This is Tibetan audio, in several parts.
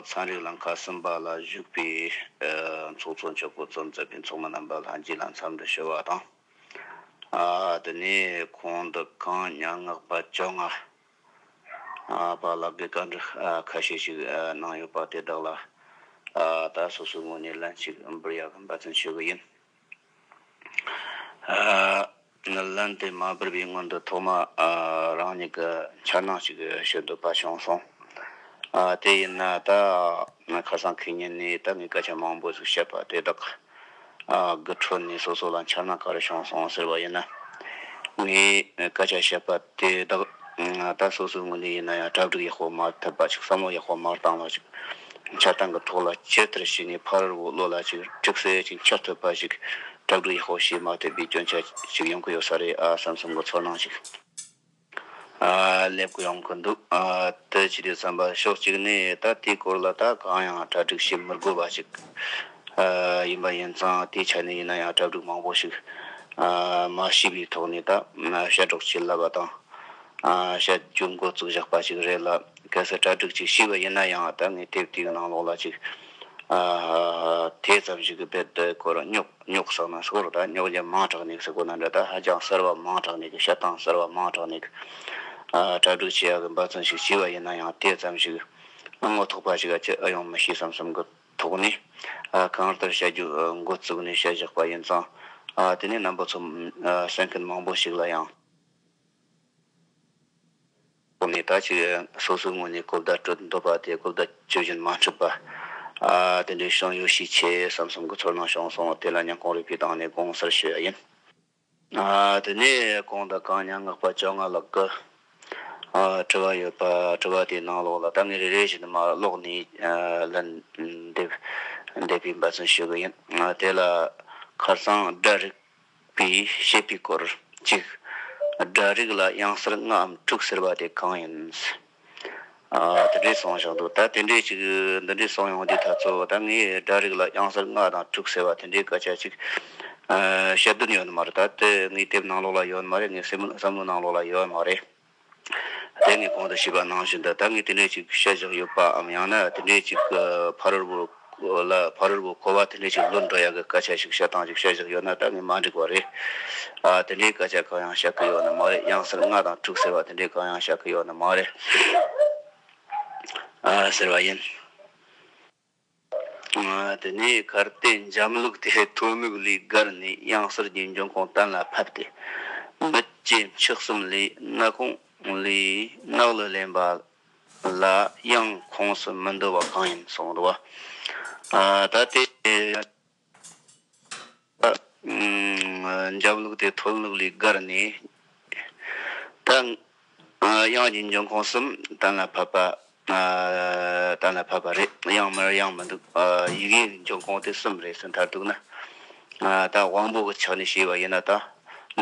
ཚན་རིག་ལ་ཁ་ཟུམ་པ་ལ་བཞུགས་པའི་ཚོགས་གཙོ་མཆོག་སྐུ་ཚབ་མཛད་པའི་ཚོགས་མི་རྣམ་པ་ལྷན་རྒྱས་ལ་འཚམས་འདྲི་ཞུ་བ་དང། དེ་ནས་ཁོང་དུ་གང་ཉག་སྔགས་པ་བཅོ་ལྔ་པ་ལགས་ཀྱིས་བཀའ་འདྲི་ཁ་ཤས་ཤིག་གནང་ཡོད་པ་དེ་དག་ལ་ད་སོ་སོའི་ངོས་ནས་ལན་གཅིག་འབུལ་ཡག་གི་འབད་བརྩོན་ཞུ་གི་ཡིན། ལན། དེ་མ་བར་བའི་སྔོན་དུ་ཐོག་མ་རང་ཉིད་ཀྱི་འཆར་སྣང་ཞིག་ཞུ་འདོད་པ་བྱུང་སོང། དེ་ཡིན་ན་ད་ཁ་སང་ཁྱེད་ཉིད་ནས་ད་ངས་སྐད་ཆ་མང་པོ་ཞིག་བཤད་པ་དེ་དག་གི་ཁྲོད་ནས་སོ་སོ་ལ་འཆར་སྣང་ག་རེ་བྱུང་སོང་ཟེར་བ་ཡིན་ན། ངས་སྐད་ཆ་བཤད་པ་དེ་དག་ད་སོ་སོའི་ངོས་ནས་ཡིན་ན་ཡང་གྲ་སྒྲིག་ཡག་པོ་མ་ཐུབ་པ་ཞིག་བསམ་བློ་ཡག་པོ་མ་བཏང་བ་ཞིག། བྱ་བཏང་གི་ཐོག་ལ་ཇི་ལྟར་བྱས་ནས་ཕ་རོལ་བོ་བློ་ལ་ཅིག་འཁྲིག་སེ་ཅིག་འཆར་ཐུབ་པ་ཞིག་སྐྲག་སྡུག་ཡག་པོ་ཞེ་མ་ཐེབས་པའི་སྐྱོན་ཆ་ཞིག་ཡོང་གི་ཡོད་ས་རེད་ཨ་བསམ་བསམ་གི་ཚོར་སྣང་ཞིག་སླེབས་གི་ཡོང་གི་འདུག་དེ་ཅི་རེད་བསམ་པ་ཕྱོགས་གཅིག་ནས་ད་དེའི་སྐོར་ལ་ད་གང་ཡང་གྲ་སྒྲིག་བྱེད་མི་དགོས་པ་ཞིག་ཡིན་པ་ཡིན་ཙང་དེའི་ཆ་ནས་ཡིན་ན་ཡང་གྲ་སྒྲིག་མང་པོ་ཞིག་མ་བྱས་པའི་ཐོག་ནས་ད་བཤད་སྒྲོག་བྱེད་ལབ་པ་དང་བཤད་རྒྱུ་མགོ་བཙུགས་བཞག་པ་ཞིག་རེད་ལ། གལ་སྲིད་གྲ་སྒྲིག་ཅིག་ཤེས་པ་ཡིན་ན་ཡང་ད་ངས་དེབ་དེའི་ནང་ལོགས་ལ་ཅིག་དེ་ཙམ་ཞིག་གི་དཔེར་དེ་སྐོར་རྙོག་རྙོག་བསགས་ན་སྐོར་ད་རྙོག་འཇམ་མང་དྲགས་ནས་སྐོར་ན་འདྲ་ད་ཧ་ཅང་གསར་བ་མང་དྲགས་ནས་བཤད་སྟངས་གསར་བ་མང་དྲགས་ནས་གྲ་སྒྲིག་བྱེད་ཡག་གི་འབའ་ཚང་ཞིག་བྱས་པ་ཡིན་ན་ཡང་དེ་ཙམ་ཞིག་ཨ་ངོ་ཐོག་པ་ཞིག་ག་ཅི་ཨ་ཡོང་མི་ཤེས་སམ་བསམ་གི་ཐོག་ནས་གང་ལྟར་བྱ་རྒྱུ་འགོ་བཙུགས་ནས་བཤད་བཞག་པ་ཡིན་ཙང་དེ་ནས་རྣམ་པ་ཚོ་གསན་མཁན་མང་པོ་ཞིག་ལ་ཡང། ཁོ་མོས་ད་ཅི་སོ་སོའི་ངོས་ནས་གོ་བརྡ་སྤྲོད་འདོད་པ་དེ་གོ་བརྡ་སྤྱོད་བཞིན་མ་འགྲུབ་པར། དེ་འདྲའི་བྱུང་ཡོད་ཤས་ཆེ་བསམ་བསམ་གྱི་ཚོར་སྣང་བྱུང་སོང་བ་དེ་ལ་སྙམ་ཁོང་རིག་པའི་གདངས་ནས་དགོངས་སར་ཞུ་ཡ་ཡིན། དེ་ནས་ཁོང་དང་གང་མྱ་ངག་པ་བཅོ་ལྔ་ལགས་ཀྱི་དྲི་བ་ཡོད་པ་དྲི་བ་དེའི་ནང་ལོགས་ལ་ད་ངས་རེ་རེ་བཞིན་དུ་མ་ཀློག་ནས་ལན་འདེབས་འདེབས་པའི་འབད་བརྩོན་ཞུ་གི་ཡིན། དེ་ལ་ཁར་སང་སྒྲ་རིག་པའི་བཤད་པའི་སྐོར་གཅིག། སྒྲ་རིག་ལ་དབྱངས་གསལ་ལྔའམ་དྲུག་ཟེར་བ་དེ་གང་ཡིན། དེ་འདྲའི་གསུང་བཞག་འདུག་ད་དེ་འདྲའི་ཅིག་འདི་འདྲའི་གསུང་ཡོང་དུས་ད་ཚོ་ད་ངས་སྒྲ་རིག་ལ་དབྱངས་གསལ་ལྔ་དང་དྲུག་ཟེར་བ་དེ་འདྲའི་སྐད་ཆ་ཅིག་བཤད་དོན་ཡོད་མ་རེད་ད་དེ་ངའི་དེབ་ནང་ལོགས་ལ་ཡོད་མ་རེད་ངའི་བསམ་བློའི་ནང་ལོགས་ལ་ཡོད་མ་རེད། དེ་ངས་གོང་དུ་ཞུས་པ་ནང་བཞིན་དུ་ད་ངས་དེ་འདྲའི་ཞིག་བཤད་བཞག་ཡོད་པའམ་ཡང་ན་དེ་འདྲའི་ཞིག་གི་ཕ་རོལ་བོ་ལ་ཕ་རོལ་བོ་འཁོར་བ་དེ་འདྲའི་ཞིག་བློར་འགྲོ་ཡག་གི་སྐད་ཆ་ཞིག་བཤད་སྟངས་ཞིག་བཤད་བཞག་ཡོད་ན་ད་ངས་མ་འགྲིག་པ་རེད། དེ་འདྲའི་སྐད་ཆ་གང་ཡང་བཤད་ཀི་ཡོད་ནི་མ་རེད་གཡང་ཟེར་ལྔ་དང་དྲུག་ཟེར་བ་དེ་འདྲའི་གང་ཡང་བཤད་ཀི་ཡོད་ནི་མ་རེད། ཟེར་བ་ཡིན། དེ་ནས་གར་བལྟས་འཇམ་ལུགས་དེ་ཐོལ་མོའི་ལུས་བསྒར་ནས་གཡང་གཟར་གྱི་འབྱུང་ཁུངས་གཏན་ལ་ཕབ་སྟེ། མི་སྐྱེ་མཆེད་གསུམ་ལས་སྣ་ཁུང་ལས་གནག་ལུ་ལེན་པ་ལ་གཡང་ཁོངས་སུ་མི་འདུ་བ་གང་ཡིན་གསུངས་འདུག་ད་ལྟའི། འཇམ་ལུགས་དེ་མཐོ་ལུགས་ལས་བསྒར་ནས། དབྱངས་ཀྱི་འབྱུང་ཁུངས་གསུམ་གཏན་ལ་ཕབ་པ། གཏན་ལ་ཕབ་པ་རེད་དབྱངས་མེར་དབྱངས་མི་འདུག་ཡི་གེའི་འབྱུང་ཁུངས་དེ་གསུམ་རེད་ཟེར་མཐར་གཏུགས་ན། ད་དབང་པོ་གི་ཆ་ནས་ཤེས་པ་ཡིན་ན་དང།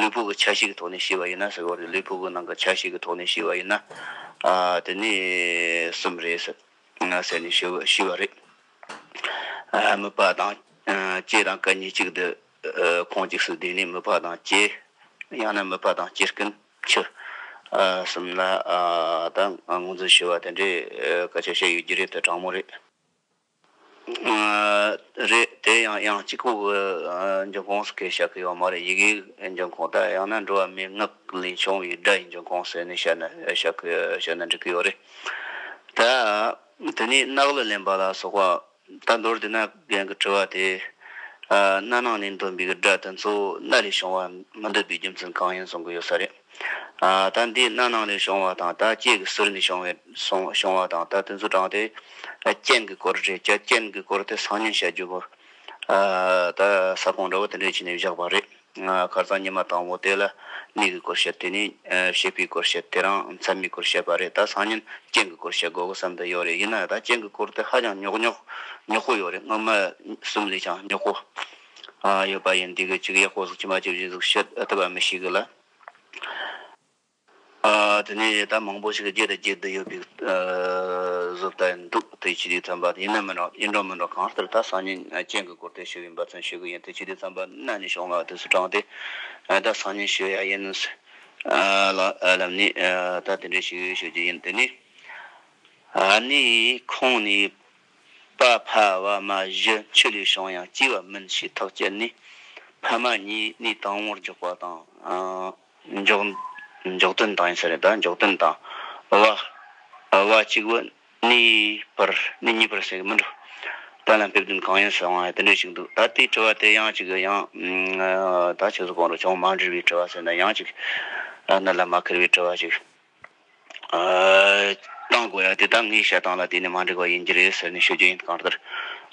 ལུས་པོ་གི་ཆ་ཞིག་གི་ཐོག་ནས་ཤེས་པ་ཡིན་ན་ཟེར་བ་རེད་ལུས་པོ་གི་ནང་གི་ཆ་ཞིག་གི་ཐོག་ནས་ཤེས་པ་ཡིན་ན། དེ་ནས་གསུམ་རེད་ཟེར་ནས་ཤེས་པ་རེད། མོས་པ་དང་བཅས་དང་སྐལ་ཉེ་གཅིག་བསྡུ། ཁོང་འཇིགས་སུ་བསྡུས་ནས་མོས་པ་དང་བཅས། ཡང་ན་མོས་པ་དང་བཅས་སྐུ་འཆི། གསུམ་ལ་དང་ངོ་འཛིན་ཞུ་བ་དེ་འདྲའི་བཀའ་ཆོས་བཤད་ཡོད་རྒྱུ་རེད་དེ་དྲང་མོ་རེད། རེད་དེ་ཡང་དབྱངས་གཅིག་པོ་གི་འབྱུང་ཁུངས་སུ་ཁས་བྱ་གི་ཡོད་མ་རེད་ཡི་གེའི་འབྱུང་ཁུངས་དང་ཡང་ན་འགྲོ་བ་མིའི་ངག་ལས་བྱུང་བའི་སྒྲ་ཡི་འབྱུང་ཁུངས་ཟེར་ནས་བཤད་ན་བཤད་ན་འགྲིག་གི་ཡོད་རེད་དཱ། དེ་ནས་གནག་ལ་ལེན་པ་ལ་སོགས་པ། ད་མདོར་དེ་ན་རྒན་གྱི་དྲི་བ་དེ། སྣ་ནང་ནས་འདོན་པའི་སྒྲ་དེ་ཚོ་སྣ་ལས་བྱུང་བ་མི་འདོད་པའི་རྒྱུ་མཚན་གང་ཡིན་གསུང་གི་ཡོད་ས་རེད། ད་འདིས་སྣ་ནང་ལས་བྱུང་བ་དང་ད་སྐྱེས་ཀྱི་ཟུར་ནས་བྱུང་བའི་བྱུང་བ་དང་ད་དེ་ཚོ་དྲངས་ཏེ། རྐྱེན་གྱི་སྐོར་རེད་ཀྱ་རྐྱེན་གྱི་སྐོར་དེ་སང་ཉིན་བཤད་རྒྱུ་བོ། ད་ས་གོང་འདྲ་བོ་དེ་འདྲས་བྱས་ནས་བཞག་པ་རེད། གར་རྩང་ཉི་མ་དང་བོ་དེ་ལ་གནས་ཀྱི་སྐོར་བཤད་དེ་ནས་ཤེས་པའི་སྐོར་བཤད་དེ་རང་མཚན་མའི་སྐོར་བཤད་པ་རེད་ད་སང་ཉིན་རྐྱེན་གྱི་སྐོར་བཤད་དགོས་གི་བསམ་དུ་ཡོད་རེད་ཡིན་ན་ད་རྐྱེན་གྱི་སྐོར་དེ་ཧ་ཅང་ཉོག་ཉོག་ཉོག་པོ་ཡོད་རེད་སྔོན་མ་གསུམ་ལས་ཀྱང་ཉོག་པོ་ཡོད་པ་ཡིན་འདི་གི་གཅིག་ཡག་པོ་གཟུགས་ཅི་མ་ཅི་བཞིན་གཟུགས་བཤད་ཐུབ་པ་མི་ཤེས་གི་ལ། དེ་ནས་ཡི་དྭགས་མང་པོ་ཞིག་གིས་ཀྱེ་དང་ཀྱེ་འདི་ཡོད་པའི་གཟུགས་ལྟ་ཡིན་འདུག་དེ་ཕྱི་དེའི་ཚངས་པ་ཡིན་ནམ་མིན་ནམ་ཡིན་འགྲོ་མིན་འགྲོ་གང་ལྟར་ད་སང་ཉིན་གཅན་གྱི་སྐོར་དེ་ཞུ་བའི་འབའ་ཚང་ཞུ་གི་ཡིན་དེ་ཕྱི་དེའི་ཚངས་པ་གནའ་ནས་བྱུང་ལ་དེ་སུ་དྲངས་ཏེ་ད་སང་ཉིན་ཞུ་ཡ་ཡིན་ནམ་ཟེར། ལབ་ནས་ད་དེ་འདྲའི་ཞིག་ཞུ་རྒྱུ་ཡིན་དེ་ནས་ནི་ཁོང་ནི་པ་ཕ་བ་མ་བཞི་ཆུ་ལས་བྱུང་ཡང་སྐྱིད་བ་མིན་ཞེས་ཐག་བཅད་ནས་ཕ་མ་གཉིས་ནི་དང་བོར་འཇོག་པ་དང། འཇོག། འཇོག་དོན་དང་ཡིན་ས་རེད་ད་འཇོག་དོན་དང། བ། བ་གཅིག་བུ། ནི། བར། ནི་གཉིས་པར་ཟེར་གི་མི་འགྲོ། དོན་ལ་འཕེབས་དོན་གང་ཡིན་ཟེར་བའང་དེ་འདྲ་ཞིག་འདུག་ད་དེའི་དྲི་བ་དེ་ཡང་ཅིག་ཡང། ད་ཁྱེད་ཚོ་གང་རུང་ཅུང་མ་འདྲིས་པའི་དྲི་བ་ཟེར་ན་ཡང་ཅིག། གནད་ལ་མ་འཁེལ་བའི་དྲི་བ་ཞིག། བཏང་དགོས་ཡ་དེ་ད་ངའི་བཤད་སྟངས་ལ་དེ་ནི་མ་འགྲིག་པ་ཡིན་གྱི་རེད་ཟེར་ནས་ཤོད་རྒྱུ་ཡིན་གང་ལྟར།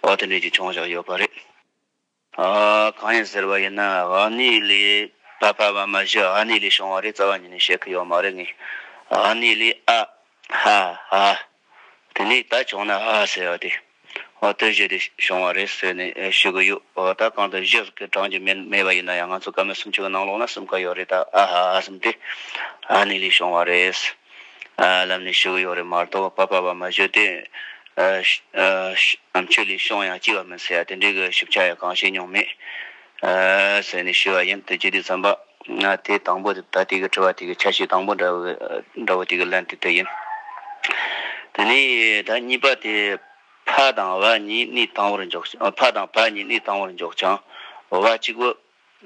བ་དེ་འདྲའི་ཅིག་བྱུང་བཞག་ཡོད་པ་རེད། གང་ཡིན་ཟེར་བ་ཡིན་ན་ཨ་ནེ་ལི་ཕ་ཕ་མ་མ་གཞི་ཨ་ནེ་ལི་བྱུང་བ་རེད་རྩ་བ་ཉིད་ནས་བཤད་ཁི་ཡོད་མ་རེད་ངས་ཨ་ནེ་ལི་ཨ་ཧ་ཧ་དེ་ནས་ད་བྱུང་ན་ཨ་ཧ་ཟེར་བ་དེ་ཨོ་དོད་བཞི་དེ་བྱུང་བ་རེད་ཟེར་ནས་ཞུ་གི་ཡོད་ད་གང་དུ་བཞི་ཀི་གྲངས་ཀྱི་མེད་མེད་པ་ཡིན་ན་ཡང་ང་ཚོ་ཀ་མེད་སུམ་ཅུ་གི་ནང་ལོགས་ན་གསུམ་ཀ་ཡོད་རེད་ད་ཨ་ཧ་ཨ་གསུམ་དེ་ཨ་ནེ་ལི་བྱུང་བ་རེད། ལམ་ནས་ཞུགས་ཡོད་རེད་མ་གཏོགས་བ་པ་པ་བ་མ་བཞུགས་དུས། ཆུ་ལས་ཤོང་ཡང་ལྕི་བ་མིན་ཟེར་ཡ་དེ་འདྲའི་གི་ཞིབ་ཆ་ཡང་གང་བྱས་མྱོང་མེད། ཟེར་ནས་ཞུས་བ་ཡིན་དེ་རྗེས་དུས་མཚམས་པ། དེ་དང་པོ་དེ་ད་དེ་གི་དྲི་བ་དེ་གི་ཆ་ཤས་དང་པོ་འདྲ་བོ་དེ་གི་ལན་དེ་དེ་ཡིན། དེ་ནས་ད་གཉིས་པ་དེ། ཕ་དང་བ་གཉིས་གནས་དང་བོར་འཇོག་ཕ་དང་བ་གཉིས་གནས་དང་བོར་འཇོག་ཅིང་བ་གཅིག་བུ།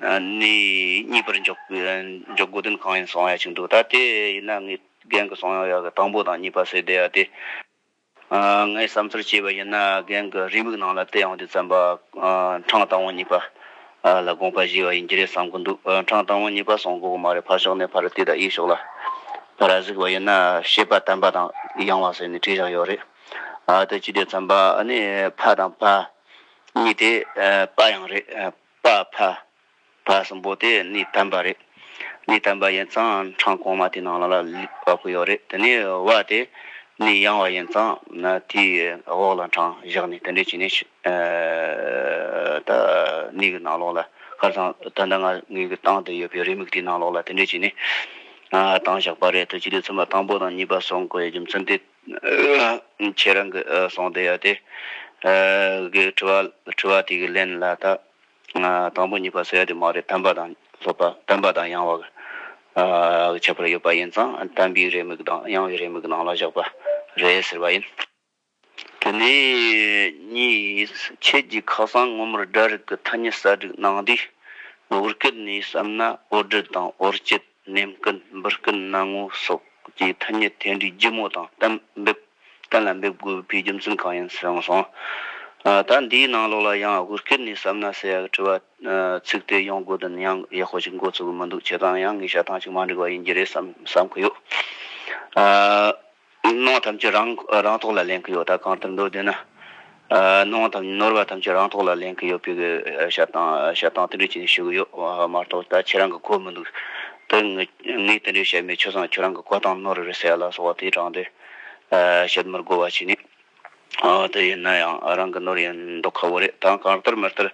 ནས་གཉིས་པར་འཇོག་དགོས་དོན་གང་ཡིན་གསུངས་ཡ་བྱུང་འདུག་ད་དེ་ཡིན་ན་ངས་རྒན་གི་གསུངས་ཡ་གི་དང་པོ་དང་གཉིས་པ་བསྲེས་བསྡད་ཡ་དེ། ངས་བསམ་ཚུལ་བྱས་པ་ཡིན་ན་རྒན་གི་རེའུ་མིག་ནང་ལ་དེ་ཡང་དུས་བརྩམས་པ་འཕྲང་དང་བོ་གཉིས་པ་ལ་དགོངས་པ་བཞེས་བ་ཡིན་གྱི་རེད་བསམ་གི་འདུག་འཕྲང་དང་བོ་གཉིས་པ་གསུངས་དགོས་གི་མ་རེད་ཕར་ཞོག་ནས་ཕར་བལྟས་དང་གཡས་ཞོག་ལ་ཕར་གཟིགས་པ་ཡིན་ན་ཤེས་པ་དམ་པ་དང་ཡང་བ་ཟེར་ནས་བྲིས་བཞག་ཡོད་རེད་ད་དེ་ཅི་སྟེ་བརྩམས་པ་ནི་ཕ་དང་ཕ་གཉིས་དེ་དཔའ་ཡང་རེད། པ་ཕ། བ་གསུམ་པོ་དེ་གནས་དམ་པ་རེད། གནས་དམ་པ་ཡིན་ཙང་འཕྲང་གོང་མ་དེ་ནང་ལ་བབ་ཀི་ཡོད་རེད་དེ་ནས་བ་དེ་གནས་ཡང་བ་ཡིན་ཙང་ན་དེའི་འོག་ལ་འཕྲང་བཞག་ནས་དེ་འདྲས་བྱས་ནས་ད་གནས་གི་ནང་ལོགས་ལ་ཁར་ཚང་ད་ད་ང་ངོས་ཀྱི་ཏང་དེ་ཡོད་པའི་རེ་མིག་དེའི་ནང་ལོགས་ལ་དེ་འདྲས་བྱས་ནས་ཏང་བཞག་པ་རེད་དོ་སྤྱི་འཐུས་ཚོགས་མ་དང་པོ་དང་གཉིས་པ་སོགས་འགོ་ཡི་རྒྱུ་མཚན་དེ། ཁྱེད་རང་གིས་གསུངས་བསྡད་ཡོད་དེ། གི་དྲི་བ་དྲི་བ་དེ་གི་ལན་ལ་ད། དང་པོ་གཉིས་པ་ཟེར་ཡོད་དེ་མ་རེད་དམ་པ་དང་ལྷོད་པ་དམ་པ་དང་ཡང་བ་གི་ཁྱད་པར་ཡོད་པ་ཡིན་ཙང་དམ་པའི་རེ་མིག་དང་ཡང་བའི་རེ་མིག་ནང་ལ་བཞག་པ་རེད་ཟེར་བ་ཡིན། དེ་ནས་གཉིས་ཁྱེད་ཀྱིས་ཁ་སང་སྔོན་མར་སྒྲ་རིག་གི་ཐ་སྙད་གསར་སྒྲིག་གནང་དུས། འོར་སྐད་ནས་བསམ་ན་འོར་སྒྲིལ་དང་འོར་སྐྱིད། ནན་སྐུལ་འབུར་སྐུལ་གནང་ངོ་སོགས་ཀྱི་ཐ་སྙད་དེ་འདྲའི་སྒྱུ་མོ་དང་གཏན་འབེབས་གཏན་ལ་འབེབས་དགོས་པའི་རྒྱུ་མཚན་གང་ཡིན་གསུངས་སོང། ད་འདིའི་ནང་ལོགས་ལ་ཡང་ཧུར་བསྐྱོད་ནས་བསམ་ན་ས་ཡག་དྲི་བ་ཚིག་དེ་ཡོང་དགོས་དོན་ཡང་ཡག་ཤོས་ཤིག་འགོ་ཚུགས་གི་མི་འདུག་བྱས་ཙང་ཡང་ངེས་ཤ་ཐང་ཅིག་མ་འགྲིག་པ་ཡིན་གྱི་རེད་བསམ་གི་ཡོད། ནོངས་ཐམས་ཅད་རང་ཐོག་ལ་ལེན་གྱི་ཡོད་ད་གང་ལྟར་འདོད་དོན་ན། ནོངས་དང་ནོར་བ་ཐམས་ཅད་རང་ཐོག་ལ་ལེན་གྱི་ཡོད་པའི་ཞབས་སྟངས་དེ་འདྲས་བྱས་ནས་ཞུ་གི་ཡོད་མ་གཏོགས་ད་ཁྱེད་རང་གི་གོ་མི་འདུག་དོན་ངས་དེ་འདྲས་བཤད་མེད་ཆོས་སང་ཁྱོད་རང་གི་གོ་སྟངས་ནོར་རེད་ཟེར་ཡ་ལ་སོགས་བ་དེའི་དྲང་དོན་བཤད་མིར་གོ་བ་བྱས་ནས། དེ་ཡིན་ན་ཡང་རང་གི་ནོར་ཡིན་མདོག་ཁ་བོ་རེད་ད་གང་ལྟར་མི་ལྟར་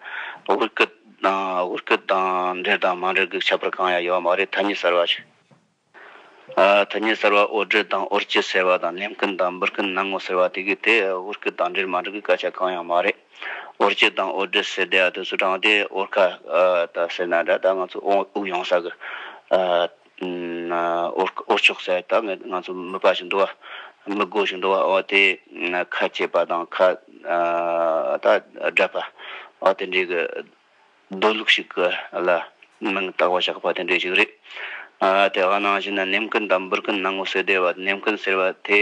དབུ་སྐད་དང་འབྲེལ་དང་མ་འབྲེལ་གྱི་ཁྱད་པར་གང་ཡང་ཡོད་མ་རེད་ཐ་སྙད་གསར་བ་ཞིག། ཐ་སྙད་གསར་བ་ཨོ་རྒྱན་དང་ཨོ་རྒྱལ་ཟེར་བ་དང་ལེན་སྐུན་དང་འབུར་སྐུན་སྣང་ངོ་ཟེར་བ་དེ་གའི་དེ་ཨོ་སྐུ་དང་འདྲེར་མ་འགྲོ་གི་སྐད་ཆ་གང་ཡང་མ་རེད། ཨོ་རྒྱལ་དང་ཨོ་རྒྱལ་ཟེར་བསྡད་ཡ་དུས་སུ་དྲང་བདེན་ཨོ་རྐ་ད་ཟེར་ན་འདྲ་ད་ང་ཚོ་དབུགས་ཡོང་ས་གི། ཨོ་རྐ་ཨོ་ཆོག་ཟེར་ད་ངས་ང་ཚོ་མི་དཔའ་ཞིག་འདུག་བ་མི་རྒོད་ཞིག་འདུག་བ་ཨོ་དེ་ཁ་གཅེས་པ་དང་ཁ་ད་དགྲ་པ་ཨོ་དེ་འདྲའི་གི། སྡོད་ལུགས་ཤིག་གི་ལ་མིང་བཏགས་པ་ཆགས་པ་དེ་འདྲས་ཤིག་རེད། དེ་ག་ནང་བཞིན་ནམ་མཁའི་འདམ་བུར་གྱི་སྣང་ངོ་སོས་བསྡད་པ་ནམ་མཁའི་ཟེར་བ་དེ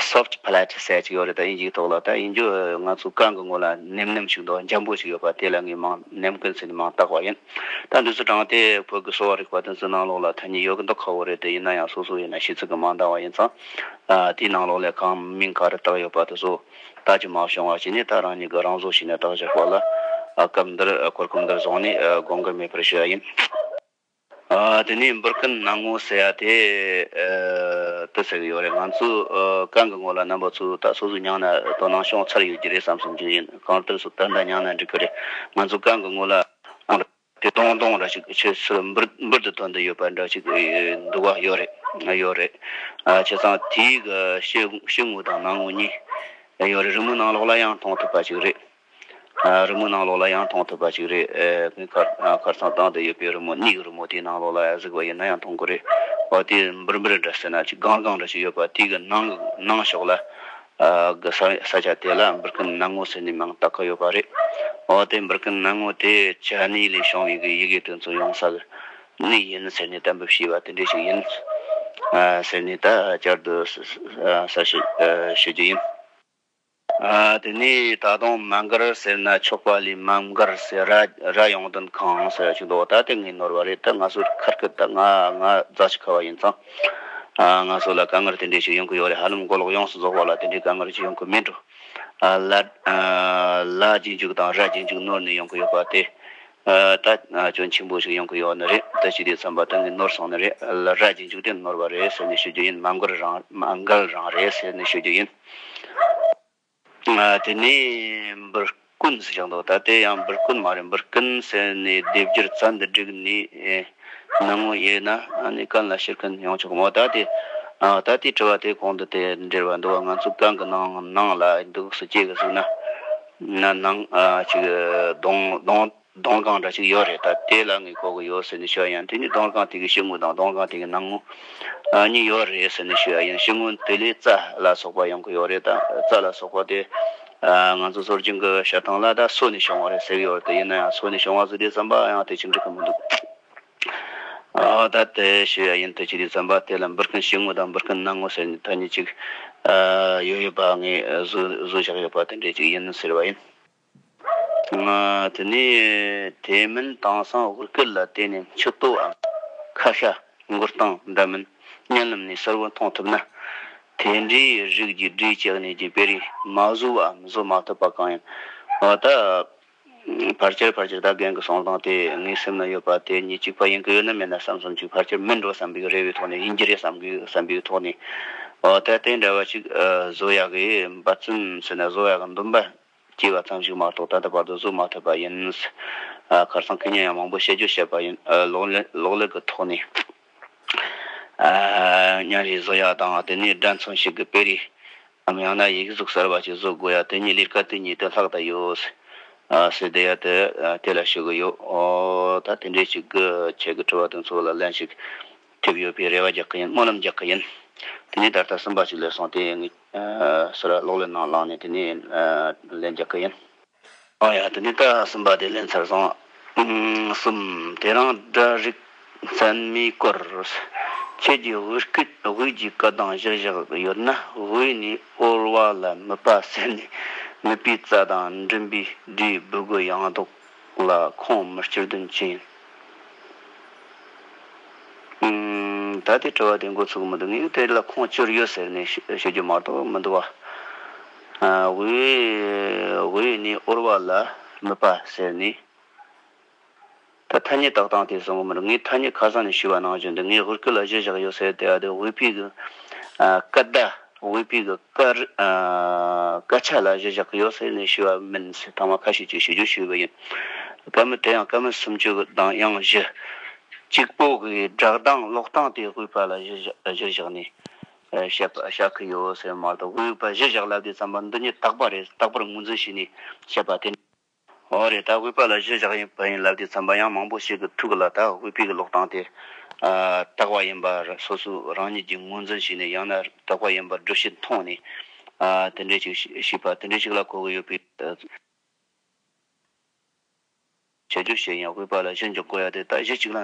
Soft Plate ཟེར་གཅིག་ཡོད་རེད་ད་ཡིན་གཅིག་ཐོག་ལ་ད་ཡིན་རྒྱུ་ང་ཚོའི་རྐང་གི་ངོ་ལ་ནེམ་ནེམ་ཞིག་འདུག་འཇམ་པོ་ཞིག་ཡོད་པ་དེ་ལ་ངས་མང་ནམ་མཁའི་ཟེར་ནས་མང་བཏགས་པ་ཡིན། ད་འདི་ཚོ་དྲངས་ཏེ་བོད་ཀྱི་གསོ་བ་རིག་པ་དེ་ཚོའི་ནང་ལོགས་ལ་ཐ་སྙད་ཡོད་གི་འདུག་ཁག་བོ་རེད་དེ་ཡིན་ན་ཡང་སོ་སོ་ཡིན་ན་ཤེས་ཚོད་ཀྱི་མང་བཏགས་བ་ཡིན་ཙང་དེའི་ནང་ལོགས་ལས་གང་མིང་ག་རེ་བཏགས་ཡོད་པ་དེ་ཚོ། ལྟ་ཅི་མ་བྱུང་བ་བྱས་ནས་ད་རང་ཉིད་ཀྱི་རང་བཟོ་བྱས་ནས་བརྟག་བྱ་དགོས་ལ། སྐབས་འདིར་གོ་སྐབས་འདིར་བཟུང་ནས་དགོངས་འགལ་མེད་པར་ཞུ་བ་ཡིན། དེ་ནས་འབུར་སྐུད་སྣང་ངོ་ཟེར་བ་དེ་དུ་ཟེར་གྱི་ཡོད་རེད་ང་ཚོས་རྐང་གི་ངོ་ལ་རྣམ་པ་ཚོས་ད་སོ་སོའི་ཉང་ན་དོ་སྣང་ཤོང་ཚར་ཡོད་ཀྱི་རེད་བསམ་བསམ་རྒྱུ་ཡིན་གང་ལྟར་སོ་ད་ཟླ་ཉང་ན་འགྲིག་གི་རེད་ང་ཚོས་རྐང་གི་ངོ་ལ་དེ་སྟོང་སྟོང་ར་ཅིག་ཆུ་ཚོད་འབུར་འབུར་དུ་འཐོར་འདི་ཡོད་པ་འདྲ་ཅིག་འདུག་ག་ཡོད་རེད་ཡོད་རེད་བྱས་ཙང་དེའི་ཕྱི་ངོས་དང་ནང་ངོས་གཉིས་ཡོད་རེད་རི་མོ་ནང་ལོགས་ལ་ཡང་མཐོང་ཐུབ་པ་ཅིག་རེད་རི་མོ་ནང་ལོགས་ལ་ཡང་མཐོང་ཐུབ་པ་ཅིག་རེད་ངས་ཁར་ཚང་བཏང་འདི་ཡོད་པའི་རི་མོ་གཉིས་ཀྱི་རི་མོ་དེའི་ནང་ལོགས་ལ་ཡང་གཟིགས་པ་ཡིན་ན་ཡང་མཐོང་གི་རེད་འོ་དེ་འབུར་འབུར་འདྲ་ཟེར་ན་ཅིག་སྒང་སྒང་འདྲ་ཅིག་ཡོད་པ་དེའི་ནང་ནང་ཕྱོགས་ལ། གི་ས་ཆ་དེ་ལ་འབུར་སྐུད་སྣང་ངོ་ཟེར་ནས་མིང་བཏགས་ཀྱི་ཡོད་པ་རེད། འོ་དེ་འབུར་སྐུད་སྣང་ངོ་དེ་ཇི་ནས་ལས་བྱུང་བའི་ཡི་གེ་དོན་ཚོགས་ཡོང་ས་ནས་ཡིན་ཟེར་ནས་གཏན་འབེབས་བྱས་པ་དེ་འདྲས་ཤིག་ཡིན། ཟེར་ནས་ད་བསྐྱར་དུ་གསལ་བཤད་ཞུ་རྒྱུ་ཡིན། དེ་ནས་ད་དུང་མ་མགར་ཟེར་ན་ཆོག་པ་ལས་མ་མགར་ཟེར་ར་ཡོང་དོན་གང་ཟེར་བ་ཞིག་འདུག་ད་དེ་ངས་ནོར་བ་རེད་ད་ང་སུར་ཁར་སྐད་ད་ང་རྫ་ཆུ་ཁ་བ་ཡིན་ཙང། ང་ཚོ་ལ་དཀའ་ངལ་དེ་འདྲའི་ཞིག་ཡོང་གི་ཡོད་རེད་ཧ་ལམ་མགོ་ལོག་ཡོངས་སུ་རྫོགས་པ་ལ་དེ་འདྲའི་དཀའ་ངལ་ཞིག་ཡོང་གི་མིན་འགྲོ། ལ་རྒྱའི་འཇུག་དང་ར་རྒྱའི་འཇུག་ནོར་ནས་ཡོང་གི་ཡོད་པ་དེ་ད་གྱོད་ཆེན་པོ་ཞིག་ཡོང་གི་ཡོད་ནི་རེད་ད་ཕྱི་དེ་ཚོམ་པ་ད་ངས་ནོར་སོང་ནི་རེད་ལ་ར་རྒྱའི་འཇུག་དེ་ནོར་བ་རེད་ཟེར་ནས་ཤོད་རྒྱུ་ཡིན་མ་མགལ་རང་རེད་ཟེར་ནས་ཤོད་རྒྱུ་ཡིན། དེ་ནས་འབུར་སྐུན་ཟེར་ཀྱང་འདུག་ད་ལྟའི་ཡང་འབུར་སྐུན་མ་རེད་འབུར་སྐུན་ཟེར་ནས་སྡེབ་སྒྱུར་རྩ་འདི་བསྒྲིགས་ནས་གནང་ངོ་ཡོད་ན་ནི་གང་ལ་ཕྱིར་འཁོན་ཡོང་ཆོག་གི་མོ་ད་ལྟའི་ད་ལྟའི་དྲི་བ་དེ་གོང་དུ་དེ་འདྲིར་བ་འདུག་བ་ང་ཚོ་གང་གི་ནང་ནང་ལ་འདུག་སུ་སྐྱེས་གི་གཟུགས་ན་ནང་གཅིག་གདོང་གདོང། སྡོང་རྐང་འདྲ་གཅིག་ཡོད་རེད་ད་དེ་ལ་ངས་གོ་གི་ཡོད་ཟེར་ནས་ཤོད་ཡང་དེ་ནི་སྡོང་རྐང་དེ་གི་ཕྱི་ངོས་དང་སྡོང་རྐང་དེ་གི་ནང་ངོས་གཉིས་ཡོད་རེད་ཟེར་ནས་ཤོད་ཡང་ཕྱི་ངོས་དེ་ལས་རྩྭ་ལ་སོགས་པ་ཡོང་གི་ཡོད་རེད་ད་རྩྭ་ལ་སོགས་པ་དེ་ང་ཚོ་སོར་ཆུང་གི་ཞག་ཐང་ལ་ད་སོས་ནས་བྱུང་བ་རེད་ཟེར་གྱི་ཡོད་རེད་ད་ཡིན་ན་ཡང་སོས་ནས་བྱུང་བ་ཟེར་དུས་རྩམ་པ་ཡང་དེ་ཕྱིར་འབྲི་གི་མི་འདུག་ད་དེ་ཤོད་ཡ་ཡིན་དེ་ཕྱིར་རྩམ་པ་དེ་ལ་འབུར་སྐུན་ཕྱི་ངོས་དང་འབུར་སྐུན་ནང་ངོས་ཟེར་ནས་ཐ་སྙད་ཅིག་ཡོད་ཡོད་པ་ངས་བཟོས་བཞག་ཡོད་པ་དེ་འདྲས་ཅིག་ཡིན་ཟེར་བ་ཡིན། དེ་ནས་དེ་མིན་དེང་སང་དབུ་སྐད་ལ་བརྟེན་ནས་མཆུ་ལྟོའམ་ཁ་ཤ་མགོ་སྟངས་འདྲ་མིན་བརྙན་ལམ་ནས་གསལ་བོ་མཐོང་ཐུབ་ན། དེ་འདྲའི་རིགས་ཀྱི་འབྲི་བྱེད་གནས་ཀྱི་དཔེ་རིས་མ་བཟོ་བའམ་བཟོ་མ་ཐུབ་པ་གང་ཡིན། འོ་ད་ཕར་ཆེར་ཕར་ཆེར་ད་རྒན་གྱི་གསུང་སྟངས་དེ་ངའི་སེམས་ན་ཡོད་པ་དེ་གཉིས་གཅིག་པ་ཡིན་གྱི་ཡོད་ན་མེད་ན་བསམ་བསམ་གཅིག་ཕར་ཆེར་མིན་འགྲོ་བསམ་པའི་རེ་བའི་ཐོག་ནས་ཡིན་གྱི་རེད་བསམ་གི་བསམ་པའི་ཐོག་ནས་འོ་ད་དེ་འདྲ་བ་གཅིག་བཟོ་ཡག་གི་འབའ་ཚུན་ཟེར་ན་བཟོ་ཡག་གི་འདུག་འབའ་སྐྱེས་བ་ཙམ་ཞིག་མ་གཏོགས་ད་ལྟ་བར་དུ་གཟུགས་མ་ཐོས་པ་ཡིན། ཁར་སང་གི་སྙན་ཡང་མང་པོ་བཤད་རྒྱུ་བཤད་པ་ཡིན། ལོག་ལས་ཀྱི་ཐོག་ནས། གཉའ་རིས་བཟོ་ཡ་དང་དེ་ནས་སྒྲ་མཚོན་ཞིག་གི་དཔེ་རིས། ནམ་ཡང་ན་ཡིག་གཟུགས་གསར་བ་ཞིག་བཟོ་དགོས་ཡ་དེ་ཉིད་ལིར་ཀ་ཏི་ཉིད་དུ་ལྷག་ད་ཡོད། སྲིད་དེ་ཡ་དེ་དེ་ལ་ཞུ་གི་ཡོད། ད་དེ་འདྲའི་ཞིག་གི་ཆེད་ཀྱི་དྲི་བ་དེ་ཚོ་ལ་ལན་ཞིག་ཐེབས་ཡོད་པའི་རེ་བ་རྒྱག་གི་ཡིན་སྨོན་ལམ་རྒྱག་གི་ཡིན། དེ་ནས་ད་ལྟ་སུན་པ་ཞིག་ལས་སོང་དེ་ངས། ཟེར་བ་གློག་ཀླད་ནང་བླངས་ནས་དེ་ནས་ལན་རྒྱག་གི་ཡིན། ཨོ་ཡ་དེ་ནས་ད་གསུམ་པ་དེ་ལས་འཚར་སོང། གསུམ། དེ་རིང་སྒྲ་རིག་མཚན་མའི་སྐོར། ཁྱེད་ཀྱི་དབུས་སྐད་དབུས་ཀྱི་སྐད་དང་གཞིར་བཞག་ཡོད་ན་དབུས་ནས་དབུར་བ་ལ་མི་པ་ཟེར་ནས་མི་པའི་རྩ་དང་མགྲིན་པའི་སྒྲས་འབོད་དགོས་ཡང་འདུག། ལ་ཁོང་མི་སྤྱིར་དོན་ཅི་ཡིན། ད་དེ་དྲི་བ་དེ་འགོ་ཚུགས་མི་འདུག་ངས་དེ་ལ་ཁོང་སྤྱིར་ཡོད་ཟེར་ནས་ཤོད་རྒྱུ་མ་གཏོགས་མི་འདུག་བ། ཝུའུ་ཡི་ནི་ཨོར་བ་ལ་མི་པ་ཟེར་ནས་ད་ཐ་སྙད་བཏགས་སྟངས་དེ་བཟང་པོ་མི་འདུག་ངས་ཐ་སྙད་ཁ་སང་ནས་ཞུས་བ་ནང་བཞིན་དུ་ངས་ཧུར་སྐུལ་ལ་གཞི་བཞག་ཡོད་ཟེར་དེ་ཡང་དེ་ཝུའུ་པི་གི་སྐད་བརྡ། དབུས་པའི་གི་སྐད་ཆ་ལ་གཞི་བཞག་གི་ཡོད་ཟེར་ནས་ཞུས་བ་མིན་ཟེར་ཐང་མ་ཁ་ཤས་ཀྱིས་ཞུ་རྒྱུ་ཞུས་པ་ཡིན། སྐད་མི་དེ་ཡང་སྐད་མི་སུམ་ཅུ་གི་གདངས་དབྱངས་བཞི། གཅིག་པོ་གི་སྒྲག་གདངས་ཀློག་སྟངས་དེ་དབུས་པ་ལ་གཞི་བཞག་ནས་བཤད་པ་བྱ་གི་ཡོད་ཟེར་མ་གཏོགས་དབུས་པ་གཞི་བཞག་ལབ་དུས་ཙམ་པ་འདི་ཉིད་དག་པ་རེད་དག་པར་ངོས་འཛིན་བྱས་ནས་བཤད་པ་དེ། འོ་རེད་ད་ཝི་པ་ལ་གཞི་བཞག་ཡིན་པ་ཡིན་ལབ་དེ་ཚན་པ་ཡང་མང་པོ་ཞིག་གི་ཐུགས་ལ་ད་ཝི་པའི་ལོག་སྟངས་དེ་དག་པ་ཡིན་པ་སོ་སོ་རང་ཉིད་ཀྱི་ངོས་འཛིན་ཞིག་ནས་ཡང་ན་དག་པ་ཡིན་པར་སྒྲུབ་བྱེད་མཐོང་ནས་དེ་འདྲའི་ཞིག་ཞིག་པ་དེ་འདྲའི་ཞིག་ལ་གོ་གི་ཡོད་པའི་བྱེད་རྒྱུ་ཞིག་ཡིན་ཝི་པ་ལ་གཞི་འཇོག་གོ་ཡ་དེ་ད་གཞི་གཅིག་ལ་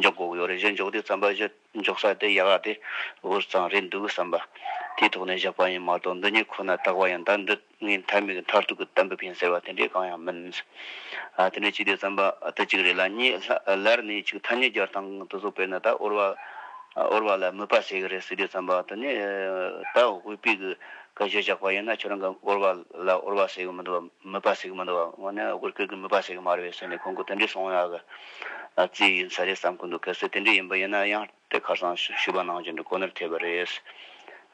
འཇོག་གོ་གི་ཡོད་རེད་གཞི་འཇོག་དེ་ཚན་པ་གཞི་འཇོག་ས་དེ་ཡག་ཡག་དེ་འུར་ཙང་རེད་འདུག་བསམ་པ་དེའི་ཐོག་ནས་བཞག་པ་ཡིན་མ་གཏོགས་འདི་གཉིས་ཁོ་ན་དག་པ་ཡིན་ད་འདི་ངའི་མཐའི་མིག་མཐར་ཐུག་གི་གཏམ་འབེབས་ཡིན་ཟེར་བ་དེ་འདྲས་གང་ཡང་མིན། དེ་འདྲས་ཅི་བདེ་རྩམ་པ་ཏི་གཅིག་རེད་ལ་གཉིས་ལར་ནས་ཆིག་ཐ་ཉིས་བརྒྱར་དང་དུ་གཟུགས་སྤེལ་ན་ད་འོར་བ་འོར་བ་ལ་མོས་པ་བྱེད་ཀྱི་རེད་ཟེར་དུས་རྩམ་པ་ཏི་ནི་ད་འོས་པའི་གི་ག་གཞས་བཞག་པ་ཡིན་ན་ཁྱོད་རང་གི་འོར་བ་ལ་འོར་བ་བྱེད་ཀྱི་མི་འདུག་བ་མོས་པ་བྱེད་ཀྱི་མི་འདུག་བ་དངོས་གནས་འོར་སྐད་ཀྱི་མོས་པ་བྱེད་ཀྱི་མ་རེད་བ་ཟེར་ནས་ཁོང་གི་དེ་འདྲས་གསུངས་ཡག་གི་རྩིས་ཡིན་ས་རེད་བསམ་གྱི་འདུག་གལ་སྲིད་དེ་འདྲས་ཡིན་པ་ཡིན་ན་ཡང། པའི་ཁར་སང་ཞུ་བ་གནང་བྱུང་འདུག་ཁོ་ནར་ཐེབས་པ་རེད།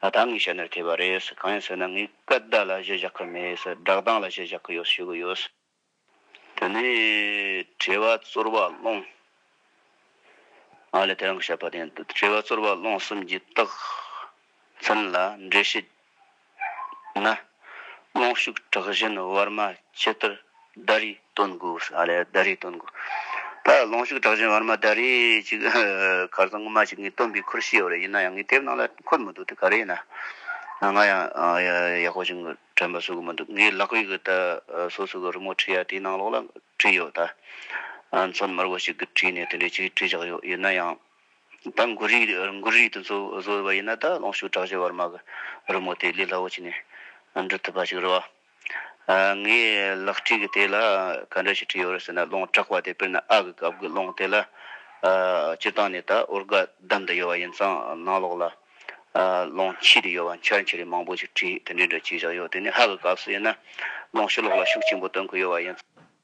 ད་ད་ངའི་ཞལ་ནས་ཐེབས་པ་རེད། གང་ཡིན་ཟེར་ན་ངས་སྐད་བརྡ་ལ་གཞི་བཞག་གི་མེད། བསྒྲགས་གཏང་ལ་གཞི་བཞག་གི་ཡོད་ཞུ་གི་ཡོད། དེ་ནས་དྲི་བ་ཙོར་བ་སློང། ང་ལ་དེ་རང་གི་བཤད་པ་དེ་ཡིན། དྲི་བ་ཙོར་བ་སློང་གསུམ་གྱི་རྟགས་མཚན་ལ་འགྲེལ་བཤད་ན། རྨོངས་ཤུགས་དྲག་བཞིན་བར་མ་ཇི་ལྟར་བརྡ་རེས་སྟོན་དགོས། བརྡ་རེས་སྟོན་དགོས། ད་རྨོངས་ཤུགས་དྲག་བཞིན་བར་མ་བརྡ་རེས་ཅིག་གར་རྩང་ངོ་མ་ཞིག་ངས་སྟོན་པའི་ཁུར་བཞེས་ཡོད་རེད་ཡིན་ན་ཡང་ངའི་དེབ་ནང་ལ་འཁོད་མི་འདུག་དེ་ག་རེ་ཡིན་ན། ང་ཡང་ཡག་པོ་ཞིག་དྲན་པ་བཟོ་གི་མི་འདུག་ངའི་ལག་པས་གི་ད་སོ་སོ་གི་རི་མོ་བྲིས་ཡ་དེའི་ནང་ལོགས་ལ་བྲིས་ཡོད་ད། མཚོན་དམར་པོ་ཞིག་གིས་བྲིས་ནས་དེ་འདྲའི་ཆེད་བྲིས་བཞག་ཡོད་ཡིན་ན་ཡང། ད་མགུར་རིགས་མགུར་རིགས་དེ་ཚོ་བཟོ་འོས་པ་ཡིན་ན་ད་ལོངས་ཤུགས་དྲག་ཆེ་བར་མ་གི་རི་མོ་དེ་ལས་སླ་བོ་བྱས་ནས་འབྲི་ཐུབ་པ་ཞིག་རེད་བ། ངས་ལག་བྲིས་ཀྱི་དེ་ལ་ག་འདྲ་ཞིག་བྲིས་ཡོད་རེད་ཟེར་ན་ལོང་དྲག་བ་དེ་དཔེར་ན་ཨ་གི་སྐབས་ཀྱི་ལོང་དེ་ལ་སྤྱིར་བཏང་ནས་ད་ཨོར་སྒ་བསྡམས་དུ་ཡོད་བ་ཡིན་ཙང་ནང་ལོགས་ལ་ལོང་ཕྱིས་དུ་ཡོད་བ་འཆར་འཆི་རིགས་མང་པོ་ཞིག་བྲིས་དེ་འདྲའི་འདྲ་བྱས་བཞག་ཡོད་དེ་ནས་ཧ་གི་སྐབས་སུ་ཡིན་ན་ལོང་ཤི་ལོགས་ལ་ཤུགས་ཆེན་པོ་སྟོན་དགོས་ཡོད་བ་ཡིན།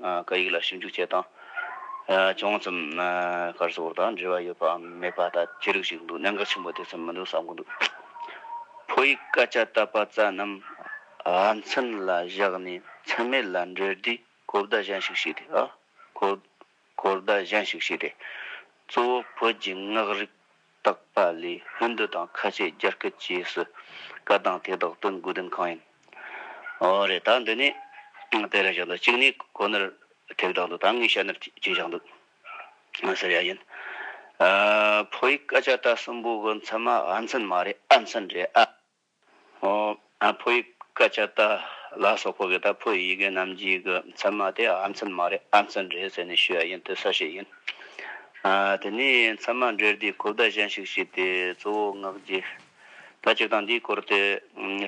བཀའ་ཡིག་ལ་ཞིབ་འཇུག་བྱེད་སྟངས་ཅུང་ཙམ་སྐར་ཚོགས་དང་འབྲེལ་བ་ཡོད་པའམ་མེད་པ་ལྟ་ཅི་རིགས་ཤིག་འདུག་གནད་འགག་ཆེན་པོ་དེ་ཙམ་མི་འདུག་བསམ་གྱི་འདུག་ཕོ་ཡིག་སྐད་ཆ་བཏབ་པ་ཙམ་རྣམས་ཨ་མཚན་ལ་བཞག་ནས་མཚན་མེད་ལ་འབྲེལ་དུས་གོ་བརྡ་གཞན་ཞིག་བྱས་ཏེ། གོ་བརྡ་གཞན་ཞིག་བྱས་ཏེ། གཙོ་བོ་བོད་ཀྱི་ངག་རིག་བརྟག་པ་ལས་སྔོན་འདི་དང་ཁ་ཆད་རྒྱར་སྐད་ཅེས་སུ་བཀའ་གདམས་དེ་དག་སྟོན་དགོས་དོན་གང་ཡིན། ཨོ་རེད་ད་འདི་ནས་དེ་རེད་བཞག་འདུག་གཅིག་ནས་ཁོ་ནར་ཐེག་དྲག་འདུག་ད་ངས་ཤ་ནར་གཅིག་བཞག་འདུག་ཟེར་ཡ་ཡིན། ཕོ་ཡིག་སྐད་ཆ་ད་གསུམ་པོ་གི་མཚན་མ་ཨ་མཚན་མ་རེད་ཨ་མཚན་རེད་ཨ། ཨ་ཕོ་ཡི་སྐད་ཆ་ལྟ་ལ་སོག་པོ་གིས་ད་ཕོ་ཡི་ཡི་གེ་རྣམས་ཀྱི་གི་མཚན་མ་དེ་ཨ་མཚན་མ་རེད་ཨ་མཚན་རེད་ཟེར་ནས་ཞུས་ཡ་ཡིན་དེ་ས་ཞིག་ཡིན། དེ་ནས་མཚན་མ་འདྲེར་དེའི་གོ་བརྡ་གཞན་ཞིག་བྱས་ཏེ་གཙོ་བོ་ངག་རྒྱས་ད་སྤྱིར་བཏང་འདིའི་སྐོར་དེ་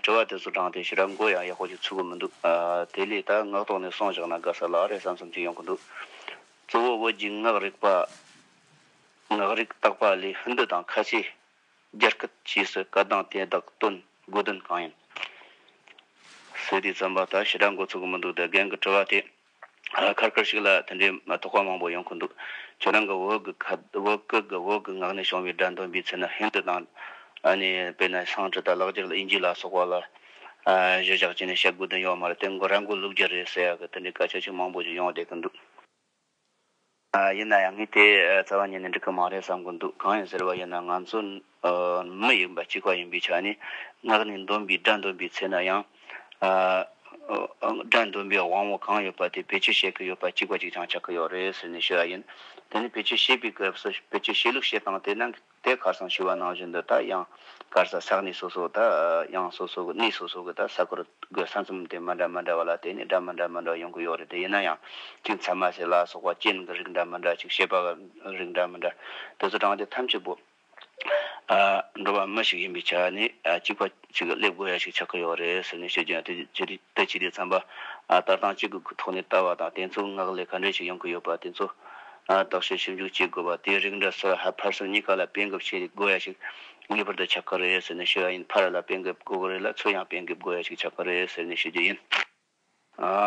དྲི་བ་དེ་ཚོ་དྲངས་ཏེ་ཞི་ར་མགོ་ཡང་ཡག་པོ་ཞིག་ཚུགས་གི་མི་འདུག་དེ་ལས་ད་ངག་ཐོག་ནས་སོང་བཞག་ན་དགའ་ས་ལགས་རེད་བསམ་བསམ་ཅིག་ཡོང་གི་འདུག་གཙོ་བོ་བོད་ཀྱི་ངག་རིག་པ་ངག་རིག་བརྟག་པ་ལས་ཧིན་རྡུ་དང་ཁ་ཆེ། རྒྱར་སྐད་ཅེས་སུ་བཀའ་གདངས་དེ་དག་སྟོན་དགོས་དོན་གང་ཡིན། ཟེར་དུས་བརྩམས་པ་ལྟར་ཞེ་དྲག་འགོ་ཚུགས་ཀྱི་མི་འདུག་ད་རྒན་གྱི་དྲི་བ་དེ་ཁར་ཁར་ཞིག་ལ་དེ་འདྲའི་མ་དོགས་པ་མང་པོ་ཡོང་གི་འདུག་ཁྱེད་རང་གི་འོག་གི་ངག་ནས་བྱུང་བའི་སྒྲ་འདོན་པའི་ཚུལ་ནི་ཧིན་དུ་དང། དཔེར་ན་སངས་ཀྲི་ཏཱ་ལག་འགྱུར་ལ་ཨིན་ཇི་ལ་སོགས་པ་ལ་གཞི་བཞག་བྱས་ནས་བཤད་དགོས་དོན་ཡོད་མ་རེད་དེ་མགོ་ར་མགོ་ལུག་རྒྱུ་རེད་ཟེར་ཡག་གི་དེ་འདྲའི་སྐད་ཆ་ཆེས་མང་པོ་ཞིག་ཡོང་བསྡད་ཀྱི་འདུག། ཡིན་ན་ཡང་ངས་དེ་རྩ་བ་ཉིད་ནས་འགྲིག་གི་མ་རེད་བསམ་གི་འདུག་གང་ཡིན་ཟེར་བ་ཡིན་ན་ང་ཚོ་མི་ཡིན་པ་གཅིག་པ་ཡིན་པའི་ཆ་ནས་ངག་ནས་འདོན་པའི་སྒྲ་འདོན་པའི་ཚེ་ན་ཡང། སྒྲ་འདོན་པའི་དབང་བོ་གང་ཡོད་པ་དེ་བེད་སྤྱོད་བྱེད་ཀྱི་ཡོད་པ་གཅིག་པ་གཅིག་རྐྱང་ཆགས་ཀྱི་ཡོད་རེད་ཟེར་ནས་ཤོད་ཡ་ཡིན། དེ་ནས་བེད་སྤྱོད་བྱེད་པའི་སྐབས་སུ་བེད་སྤྱོད་བྱེད་ལུགས་བཤད་སྟངས་དེ་ནང་གི། དེ་གར་སོང་ཞུ་བ་ནང་བཞིན་དུ་ད་ཡང་གར་ས་ས་གནས་སོ་སོ་ད་ཡང་སོ་སོ་གི་གནས་སོ་སོ་གི་ད་ས་ཁུལ་གི་ས་མཚམས་དེ་མ་འདྲ་མ་འདྲ་བ་ལ་དེ་ནས་སྒྲ་མི་འདྲ་མི་འདྲ་ཡོང་གི་ཡོད་རེད་དེ་ཡིན་ན་ཡང་གཅིག་མཚན་མ་ཟེར་ལ་སོགས་པ་རྐྱེན་གྱི་རིགས་འདྲ་མི་འདྲ་ཅིག་བྱེད་པ་གི་རིགས་འདྲ་མི་འདྲ་དེ་ཚོ་དྲངས་ཏེ་ཐམས་ཅད་པོ། འགྲོ་བ་མི་ཞིག་ཡིན་པའི་ཆ་ནས་གཅིག་པ་ཅིག་གི་སླེབས་དགོས་ཡ་ཞིག་ཆགས་ཀྱི་ཡོད་རེད་ཟེར་ནས་བཤད་རྒྱུ་ཡང་དེ་ཅི་རེད་དེ་ཅི་རེད་བསམ་པ། ལྟར་སྟངས་གཅིག་གི་ཐོག་ནས་ལྟ་བ་དང་དེ་ཚོའི་ངག་ལས་ག་འདྲས་ཞིག་ཡོང་གི་ཡོད་པ་དེ་ཚོ། རྟོག་དཔྱོད་ཞིབ་འཇུག་བྱེད་དགོས་པ་དེའི་རིགས་འདྲ་སོགས་ཧ་ཕར་སོ་གཉིས་ཀ་ལ་སྤེལ་འགེབས་བྱེད་དགོས་ཡ་ཞིག་ངེས་པར་དུ་ཆགས་ཀྱི་རེད་ཟེར་ནས་ཞུ་བ་ཡིན་ཕ་ར་ལ་སྤེལ་འགེབས་དགོས་ཀྱི་རེད་ལ་ཚུར་ཡང་སྤེལ་འགེབས་དགོས་ཡ་ཞིག་ཆགས་ཀྱི་རེད་ཟེར་ནས་ཞུ་རྒྱུ་ཡིན།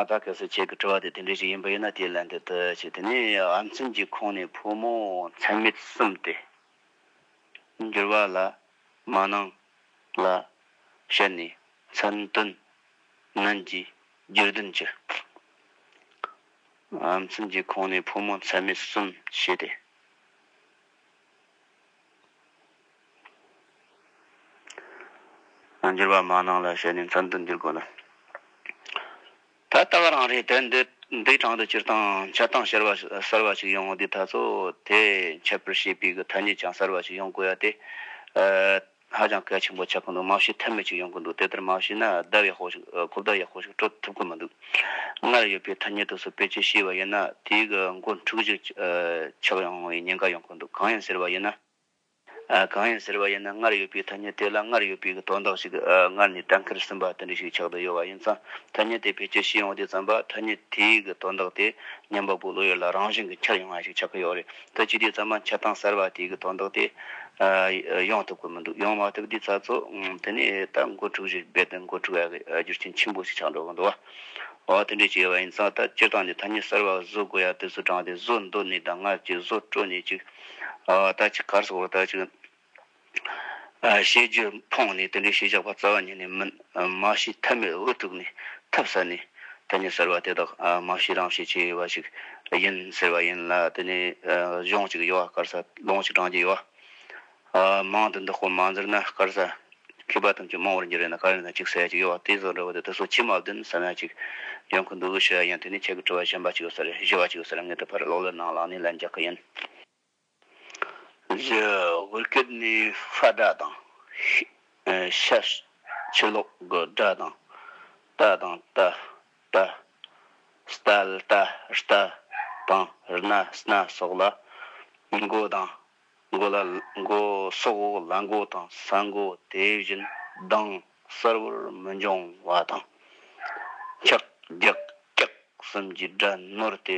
ད་གལ་སྲིད་ཁྱེད་ཀྱི་དྲི་བ་དེ་དེ་འདྲའི་ཞིག་ཡིན་པ་ཡིན་ན་དེའི་ལན་དེ་འདི་ཆེ་དེ་ནི་ཨ་མཚན་གྱི་ཁོངས་ནས་ཕོ་མོ། མཚན་མེད་གསུམ་སྟེ། འགྱུར་བ་ལ། མ་གནང། ལ། བཤད་ནས། མཚན་དོན། ནན་གྱིས། རྒྱུད་བདུན་གྱི། མཚན་གྱི་ཁོང་ནས་ཕོ་མོ་ཚད་མེད་གསུམ་བྱས་ཏེ། འགྱུར་བ་མ་གནང་ལ་ཞེས་ནི་མཚན་དུ་འགྱུར་དགོས་ལ། ད་ལྟ་བ་རང་རེའི་དད་ལྡན་གྲངས་དུ་སྤྱིར་བཏང་འཆལ་གཏམ་ཤར་བ་གསར་བ་ཞིག་ཡོང་ངོ་དེ་ད་གཟོད་དེ་འཆལ་པར་བྱེད་པའི་གི་ཐ་སྙད་ཀྱང་གསར་བ་ཞིག་ཡོང་དགོས་ཡ་སྟེ། ཧ་ཅང་གལ་ཆེན་པོ་ཆགས་ཀྱི་འདུག་མ་ཤེས་ཐབས་མེད་ཅིག་ཡོང་གི་འདུག་དེ་ལྟར་མ་བྱས་ན་ཟླ་བའི་ཧོ་ཞིག་གོ་བརྡ་ཡག་པོ་ཞིག་སྤྲོད་ཐུབ་ཀྱི་མི་འདུག་སྔར་ཡོད་པའི་ཐ་སྙད་དུ་སུ་དཔེ་ཆའི་ཤེས་པ་ཡིན་ན་དེའི་གི་འགོ་འཁྲུག་ཅིག་ཆགས་ཡོང་བའི་ཉེན་ཁ་ཡོང་གི་འདུག་གང་ཡིན་ཟེར་བ་ཡིན་ན། གང་ཡིན་ཟེར་བ་ཡིན་ན་སྔར་ཡོད་པའི་ཐ་སྙད་དེ་ལ་སྔར་ཡོད་པའི་གི་དོན་དག་ཞིག་སྔར་ནས་གྲངས་ཁེར་ཟིན་པ་དེ་འདྲ་ཞིག་ཆགས་དུ་ཡོད་བ་ཡིན་ཙང་ཐ་སྙད་དེ་ཕལ་ཆེར་ཤེས་ཡོང་དུས་བརྩམས་པ་ཐ་སྙད་དེའི་གི་དོན་དག་དེ་ཉམས་པ་པོའི་བློ་ཡུལ་ལ་རང་བཞིན་གྱི་འཁྱར་ཡོང་བ་ཞིག་ཆགས་ཀྱི་ཡོད་རེད། ད་ཅི་དེ་ཙམ་མ་ཆགས་སྟངས་གསར་བ་དེ་གི་དོན་དག་དེ། ཡོང་ཐུབ་ཀི་མི་འདུག་ཡོང་མ་ཐུབ་དུས་ཚ་ཚོ། དེ་ནས་ད་འགོ་འཁྲུག་རིགས་རྦད་དེ་འགོ་འཁྲུག་ཡག་གི་རྒྱུ་རྐྱེན་ཆེན་པོ་ཞིག་ཆགས་འགྲོ་གི་འདུག་བ། འོ་དེ་འདྲས་བྱས་པ་ཡིན་ཙང་ད་སྤྱིར་བཏང་ནས་ཐ་སྙད་གསར་བ་བཟོ་དགོས་ཡག་དུས་སུ་དྲངས་ཏེ་བཟོ་འདོད་ནས་ད་སྔར་གྱི་བཟོ་སྤྲོ་ནས་ཅིག། ད་ཅིག་གར་སོང་བ་ད་ཅིག། ཞེས་བརྗོད། འཕོངས་ནས་དེ་འདྲའི་ཞེས་བྱ་བ་རྩ་བ་ཉིད་ནི་མིན། མ་ཤི་ཐབས་མེད་འུ་ཐུག་ནས་ཐབས་ཟད་ནས། དེ་ནས་ཟེར་བ་དེ་དག་མ་ཤི་རང་ཤི་བྱེད་པ་ཞིག་ཡིན་ཟེར་བ་ཡིན་ལ་དེ་ནས་གཞུང་གཅིག་ཡོད་དཀར་ས་ལོང་གཅིག་བགྲང་རྒྱུ་ཡོད། མང་དུ་འདི་སྐོར་མ་འཛེར་ན་དཀར་ས་མཁས་པ་ཐམས་ཅད་མང་བར་འགྱུར་བས་ན་དཀར་ཡོད་ན་གཅིག་ཟེར་ཡ་གཅིག་ཡོད་དེ་ཟེར་བ་འདྲ་བ་དེ་དེ་སོགས་ཁྱི་མ་བདུན་བསད་ན་གཅིག་ཡོང་གི་འདུག་ཞེས་པ་ཡིན་དེ་ནས་ཁྱེད་ཀྱི་དྲི་བ་གཞན་པ་གཅིག་ཡོད་ས་རེད་བཞི་བ་གཅིག་ཡོད་ས་རེད་ངས་དེ་ཕར་ཀློག་ཀློད་གནང་ལགས་ནས་ལན་རྒྱག་གི་ཡིན། བཞི། བོད་སྐད་ནི་ཧྥ་སྒྲ་དང། ཤ་ཆེ་ལོག་གི་སྒྲ་དང། རྟ་དང་རྟ། རྟ། སྟལ་ཏཱ། རྟ། དང་རི་ན་སྣ་སོགས་ལ་མགོ་དང། མགོ་ལ་མགོ་སོགས་ལ་མགོ་དང་ས་མགོ་དེ་བཞིན་གདངས་གསལ་བོར་མི་འབྱུང་བ་དང། འཁྱག། རྒྱག། སྐྱག་གསུམ་གྱི་སྒྲ་ནོར་ཏེ་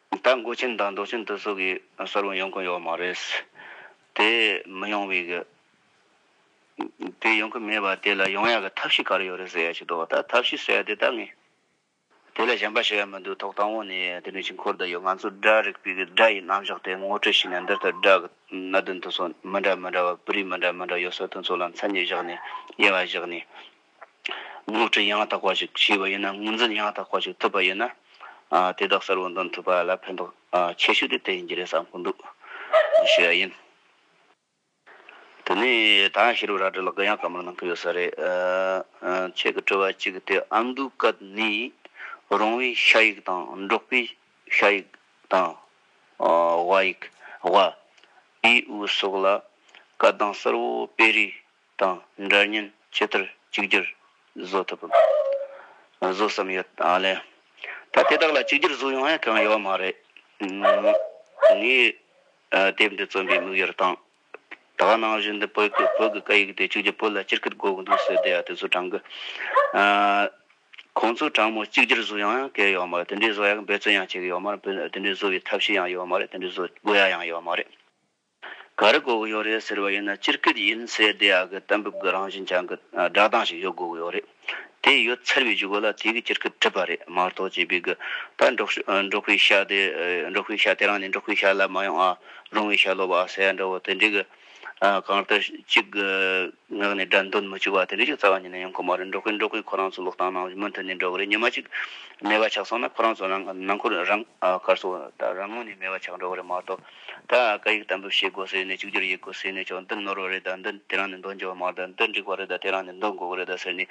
ད་མགོ་ཆེན་དང་མདོག་ཆེན་དུ་སོགས་ཀྱི་གསར་བུ་ཡོང་གི་ཡོད་མ་རེད། དེ་མི་ཡོང་བའི་གི། དེ་ཡོང་གི་མེད་པ་དེ་ལ་ཡོང་ཡག་གི་ཐབས་ཤེས་ག་རེ་ཡོད་རེད་ཟེར་ཡག་ཅིག་འདུག་ད་ཐབས་ཤེས་ཟེར་ཡག་དེ་ད་ངས། དེ་ལ་གཞན་པ་ཞིག་ཡང་མི་འདུག་ཐོག་དང་བོ་ནས་དེ་ནས་ཕྱི་འཁོར་དུ་ཡོད་ང་ཚོ་སྒྲ་རིག་པའི་གི་སྒྲ་ཡི་རྣམ་གཞག་དེ་ངོ་སྤྲོད་བྱས་ནས་འདིར་ད་སྒྲ་གི་གནད་དོན་དུ་སོགས་མི་འདྲ་མི་འདྲ་བ་སྤུ་རིས་མི་འདྲ་མི་འདྲ་ཡོད་སོགས་དོན་ཚོགས་ལ་མཚན་ཉིད་བཞག་ནས་དབྱེ་བ་བཞག་ནས། སློབ་ཁྲིད་ཡང་དག་པ་ཞིག་བྱས་པ་ཡིན་ན་དངོས་འཛིན་ཡང་དག་པ་ཞིག་ཐུབ་པ་ཡིན་ན། དེ་དག་གསར་བ་འདོན་ཐུབ་པ་ལ་ཕན་ཐོགས་ཆེ་ཤོས་དེ་དེ་ཡིན་གྱི་རེད་བསམ་གྱི་འདུག་ཞུས་པ་ཡིན། དེ་ནས་ད་ཡང་ཤེས་རབ་རལ་གྲི་ལགས་ཀྱིས་ཡང་བཀའ་མོལ་གནང་གི་ཡོད་ས་རེད། ཁྱེད་ཀྱི་དྲི་བ་གཅིག་དེ་ཨ་མདོའི་སྐད་ནི་རོང་བོའི་ཤ་ཡིག་དང་འབྲོག་པའི་ཤ་ཡིག་དང། དབའ་ཡིག། དབའ། དབྱིའུ་སོགས་ལ་སྐད་གདངས་གསར་བོ་སྤེལ་རིགས་དང་འདྲ་མཉམ་ཇི་ལྟར་གཅིག་གྱུར་བཟོ་ཐུབ་བམ། བཟོ་བསམ་ཡོད་ལ། ད་དེ་དག་ལ་གཅིག་གྱུར་བཟོ་ཡོང་ཡ་གང་ཡོད་མ་རེད། ངས་དེབ་འདི་བརྩམས་པའི་དམིགས་ཡུལ་དང། ད་ག་ནང་བཞིན་དུ་བོད་ཀྱི་བོད་ཀྱི་སྐད་ཡིག་དེ་གཅིག་གྱུར་བོད་ལ་སྤྱིར་སྐད་གོ་གི་འདུག་ཟེར་བསྡད་ཡ་དེ་ཚོ་དྲང་གི། ཁོང་ཚོའི་དྲང་མོ་གཅིག་གྱུར་བཟོ་ཡོང་ཡ་གལ་ཡོད་མ་རེད་དེ་འདྲའི་བཟོ་ཡ་གི་འབད་བརྩོན་ཡང་བྱེད་གི་ཡོད་མ་རེད་དེ་འདྲའི་བཟོ་བའི་ཐབས་ཤེས་ཡང་ཡོད་མ་རེད་དེ་འདྲའི་བཟོ་དགོས་ཡ་ཡང་ཡོད་མ་རེད། ག་རེ་གོ་གི་ཡོད་རེད་ཟེར་བ་ཡིན་ན་སྤྱིར་སྐད་ཡིན་ཚེ་དེ་ཡག་གི་གཏན་འབེབས་ཀྱི་རང་བཞིན་ཅན་གྱི་སྒྲ་གདངས་ཤིག་ཡོད་དགོས་ཀྱི་ཡོད་རེད། དེ་ཡོད་ཚར་བའི་བྱེད་སྒོ་ལ་དེ་གི་སྤྱིར་སྐད་བྲིས་པ་རེད་མ་གཏོགས་བྱས་པའི་གི་ད་འབྲོག་པའི་ཤ་དེ་འབྲོག་པའི་ཤ་དེ་རང་ནས་འབྲོག་པའི་ཤ་ལ་མ་ཡོང་ཨ་རོང་བའི་ཤ་སློབ་པ་ཨ་ཟེར་ཡ་འདྲ་བོ་དེ་འདྲའི་གི་གང་ལྟར་གཅིག་གི་ངག་ནས་སྒྲ་འདོན་མི་བཅུག་པ་དེ་འདྲའི་ཞིག་རྩ་བ་ཉིད་ནས་ཡོང་གི་མ་རེད་འབྲོག་པས་འབྲོག་པའི་ཁོ་རང་ཚོའི་ལོག་གཏམ་རྣམས་མུ་མཐུད་ནས་འབྲོག་གི་རེད་ཉི་མ་གཅིག་སྨྲེ་བ་ཆགས་སོང་ན་ཁོ་རང་ཚོ་རང་ནང་ཁུལ་རང་དགར་སོ་ད་རང་ངོས་ནས་སྨྲེ་བ་ཆགས་འགྲོ་གི་རེད་མ་གཏོགས། ད་བཀའ་ཡིག་དམ་འབུལ་བྱེད་དགོས་ཟེར་ནས་གཅིག་གྱུར་ཡིན་དགོས་ཟེར་ནས་ཀྱང་འདི་ནོར་བ་རེད་ད་འདི་དེ་རང་ནས་འདོན་རྒྱུ་བ་མ་རེད་ད་འདི་འགྲིག་པ་རེད་ད་དེ་རང་ནས་འདོན་དགོས་ཀྱི་རེད་ད་ཟེར་ནས་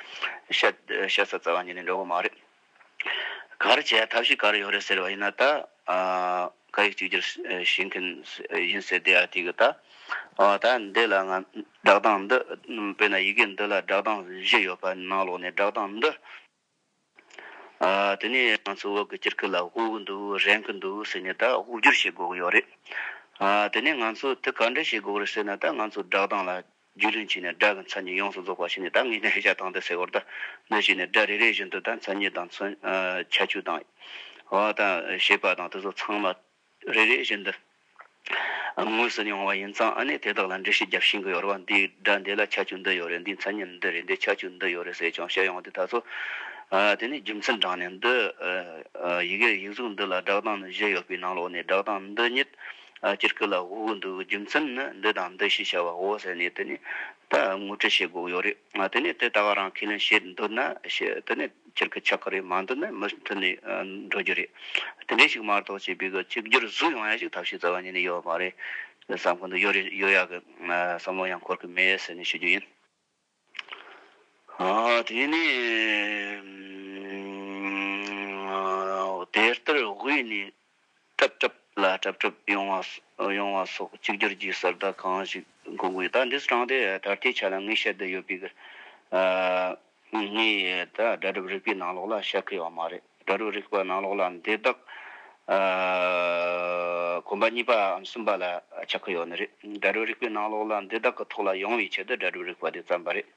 ཤ་ཚ་ཚ་བ་ཉིད་ནས་འགྲོ་གི་མ་རེད། གར་བྱས་ཐབས་ཤེས་གར་ཡོད་རེད་ཟེར་བ་ཡིན་ན་ད་བཀའ་ཡིག་གཅིག་གྱུར་བྱེད་མཁན་ཡིན་ཟེར་དེ་ཡང་ཐིག་གི་ད་ད་འདི་ལ་ང་བསྒྲགས་སྟངས་འདི་དཔེར་ན་ཡི་གེ་འདི་ལ་བསྒྲགས་སྟངས་བཞི་ཡོད་པ་ནང་ལོགས་ནས་བསྒྲགས་སྟངས་འདི། དེ་ནས་ང་ཚོ་འོག་གི་སྤྱིར་ཁུ་ལ་དབུགས་གི་འདུག་རེངས་གི་འདུག་ཟེར་ནས་ད་དབུགས་སྒྱུར་བྱེད་དགོས་ཀྱི་ཡོད་རེད། དེ་ནས་ང་ཚོས་དེ་ག་འདྲ་བྱེད་དགོས་རེད་ཟེར་ན་ད་ང་ཚོས་སྒྲག་སྟངས་ལ་རྒྱུས་ལོན་བྱས་ནས་སྒྲ་གི་མཚན་ཉིད་ཡོངས་སུ་རྫོགས་པ་བྱས་ནས་ད་ངེས་ཅན་ཤེས་བྱ་དང་དེ་སེལ་བར་ད་གནོད་བྱས་ནས་སྒྲ་རེ་རེ་བཞིན་དུ་ད་མཚན་ཉིད་དང་ཁྱད་ཆོས་དང། བ་དང། ཤེས་པ་དང་དེ་ཚོ་ཚང་མ་རེ་རེ་བཞིན་དུ་དངོས་སུ་མྱོང་བ་ཡིན་ཙང་ཨ་ནི་དེ་དག་ལ་འགྲེལ་བཤད་རྒྱབ་ཤིང་གི་ཡོར་བ་འདི་སྒྲ་འདི་ལ་ཁྱད་ཆོས་འདི་ཡོད་རེད་འདིའི་མཚན་ཉིད་འདི་རེད་འདི་ཁྱད་ཆོས་འདི་ཡོད་རེད་ཟེར་ཀྱང་བཤད་ཡོང་དེ་ད་ཚོ་དེ་ནི་རྒྱུ་མཚན་དྲངས་ནས་འདི་ཡི་གེ་ཡིག་གཟུགས་འདི་ལ་སྒྲགས་སྟངས་ནི་བཞི་ཡོད་པའི་ནང་ལོགས་ནས་སྒྲགས་སྟངས་འདི་ཉིད་སྤྱིར་སྐུ་ལ་དབུ་གུ་འདུག་རྒྱུ་མཚན་ནི་འདི་དང་འདི་ཞེས་བྱ་བ་འོ་ཟེར་ནས་དེ་ནི་ད་ངོ་སྤྲོད་བྱེད་དགོས་ཡོད་རེད་དེ་ནི་དེ་ད་ག་རང་ཁས་ལེན་བྱེད་འདོད་ན་བྱེད་དེ་ནི། སྤྱིར་གི་ཆགས་ཀ་རེ་མང་དུ་ནི་མུ་མཐུད་ནས་འགྲོ་རྒྱུ་རེད། དེ་འདྲའི་ཞིག་མར་དོགས་བྱས་པའི་གི་གཅིག་གྱུར་གཟུགས་ཡོང་ཡ་ཞིག་ཐབས་ཤེས་རྩ་བ་ཉིད་ནས་ཡོད་མ་རེད། བསམ་ཁོ་ནས་ཡོད་རེ་ཡོད་ཡ་གི་བསམ་བློ་ཡང་འཁོར་གི་མེད་ཟེར་ནས་ཞུ་རྒྱུ་ཡིན། དེ་ནས་དེ་ལྟར་དབུས་ནས་གྲབས་གྲབས་ལ་གྲབས་གྲབས་ཡོང་བ་སོགས་གཅིག་གྱུར་གྱི་གསར་བརྡ་གང་ཞིག་འགོད་དགོས་ད་འདིས་དྲངས་ཏེ་ད་ལྟའི་ཆ་ལ་ངས་བཤད་བསྡད་ཡོད་པའི་གི་ངའི་དགྲ་གྲབས་རིག་པའི་ནང་ལོགས་ལ་བཤད་ཁི་ཡོད་མ་རེད་དགྲ་གྲབས་རིག་པ་ནང་ལོགས་ལ་འདི་དག་གོམ་པ་གཉིས་པའམ་གསུམ་པ་ལ་བྱ་ཁི་ཡོད་ནི་རེད་དགྲ་གྲབས་རིག་པའི་ནང་ལོགས་ལ་འདི་དག་གི་ཐོག་ལ་ཡོང་བའི་ཆེད་དུ་དགྲ་གྲབས་རིག་པ་དེ་བརྩམས་པ་རེད།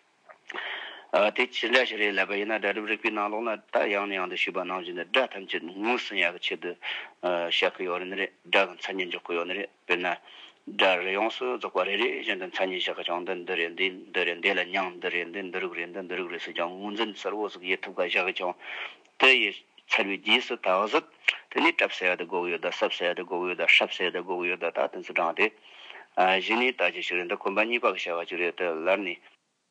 དེ་ཇི་འདྲ་ཞིག་རེད་ལབ་པ་ཡིན་ན་སྒྲ་སྒྲུབ་རིག་པའི་ནང་ལོགས་ན་ད་ཡང་ནས་ཡང་དུ་ཞུས་པ་གནང་བཞིན་དུ་སྒྲ་ཐམས་ཅད་ངོས་ཟིན་ཡག་གི་ཆེད་དུ་བཤད་ཀི་ཡོད་ནི་རེད་སྒྲ་གི་མཚན་ཉིད་འཇོག་གི་ཡོད་ནི་རེད་དཔེར་ན། སྒྲ་རེ་ཡོངས་སུ་རྫོགས་པ་རེ་རེ་བཞིན་དུ་མཚན་ཉིད་བཞག་གི་ཀྱང་འདི་འདི་རེད་འདི་འདི་རེད་འདི་ལ་མྱང་འདི་རེད་འདི་འདི་རུག་རེད་འདི་འདི་རུག་རེད་ཟེར་ཀྱང་ངོས་འཛིན་གསལ་བོ་ཟིག་ཡེ་ཐུབ་ཀ་བཞག་གི་ཀྱང་དེ་ཡི་ཚར་བའི་རྗེས་སུ་ད་གཟོད་དེ་ནས་བྲབ་ཟེར་ཡག་དུ་དགོས་གི་ཡོད་ད་སྲབ་ཟེར་ཡག་དུ་དགོས་གི་ཡོད་ད་ཧྲབ་ཟེར་ཡག་དུ་དགོས་གི་ཡོད་ད་ད་དེ་ཚོ་དྲངས་ཏེ། གཞི་ནས་ད་ཅི་ཞིག་རེད་འདི་གོམ་པ་གཉིས་པ་གི་བྱ་བ་ཅིག་རེད་དེ་ལར་ནས།